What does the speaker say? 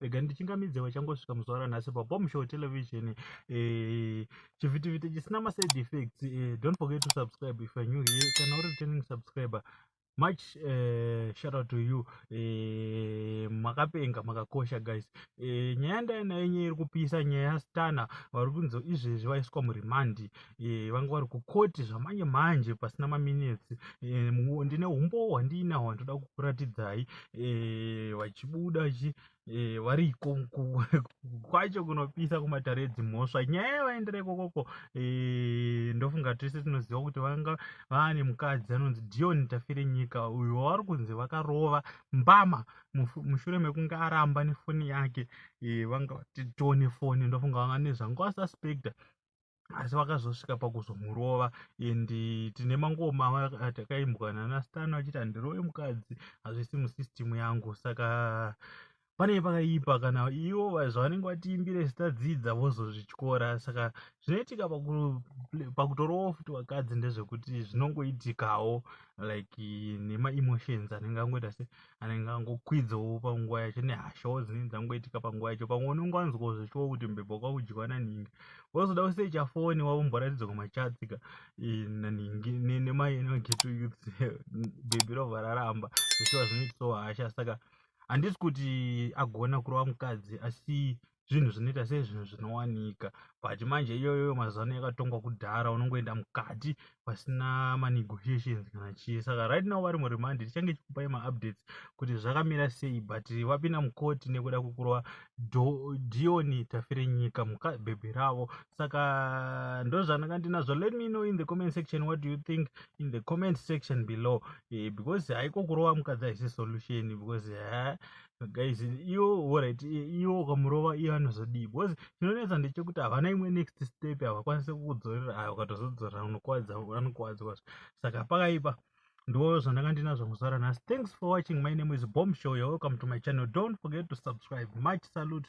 rega ndichingamidze vachangosvika muzuva ranhasi pabom show television eh, chivhitivhiti e, chisina maside effects eh, don't forget to subscribe if you're new here kana uri returning subscriber much uh, shout out to you eh, makapenga makakosha guys eh, nyaya ndainayo nyaya iri kupisa nyaya yastana vari kunzi izvezvi vaiswa muremandi eh, vanga vari kukoti zvamanje manje pasina maminetsi eh, ndine umbowo hwandiinaho handoda kukuratidzai eh, vachibuda chi eh, variko kwacho kunopisa kumatare edzimhosva nyaya yavaendera ikokoko eh, ndofunga tese tinoziva kuti vanga vaane mukadzi anonzi dion tafire nyika uyo wavari kunzi vakarova mbama mushure mekunge aramba nefoni yake eh, vanga vatitone foni ndofunga vanga nezvanga vasuspecta asi vakazosvika pakuzomurova and tine mangoma atakaimbwa nanastano achiti handirove mukadzi hazvisi musystem yangu saka panei pakaipa kana ivo zvavanenge vatiimbire zitadzidza vozozvityora saka zvinoitika pakutorowo futi vakadzi ndezvekuti zvinongoitikawo like nemaemotions anenge angoita se anenge angokwidzawo panguva yacho nehashawo dzinenge dzangoitika panguva yacho pamwe unenge wanzwa zvichiwo kuti mbebha kwakudyiwa nanhingi wozoda kusecha foni wavomboratidzwa kumachatsika eh, nanhingi nemai enogeto youth bhebhi robva raramba zvichiwa zvinoitisawo hasha saka handisi kuti agona kurova mukadzi asi zvinhu zvinoita sei zvinhu zvinowanika but manje iyoyo mazuva ano yakatongwa kudhara unongoenda mukati pasina manegotiations kana chii saka right now vari muremandi tichange chikupai maupdates kuti zvakamira sei but vapinda mukoti nekuda kwekurova dioni tafire nyika mukabhebhi ravo saka ndozvananga ndinazvo let me know in the comment section what do you think in the comment section below eh, because haiko kurova mukadzi haisi solution because eh, guys iwo orit iwo ukamurova iye anozodii because chinonetsa ndechekuti havana imwe next step havakwanise kukudzorera aya ukatozodzorera unokwadza anokwadza kwazvo saka pakaipa ndiwo zvandanga ndinazvo muzara nhasi thanks for watching my name is bomb show you're welcome to my channel don't forget to subscribe much salute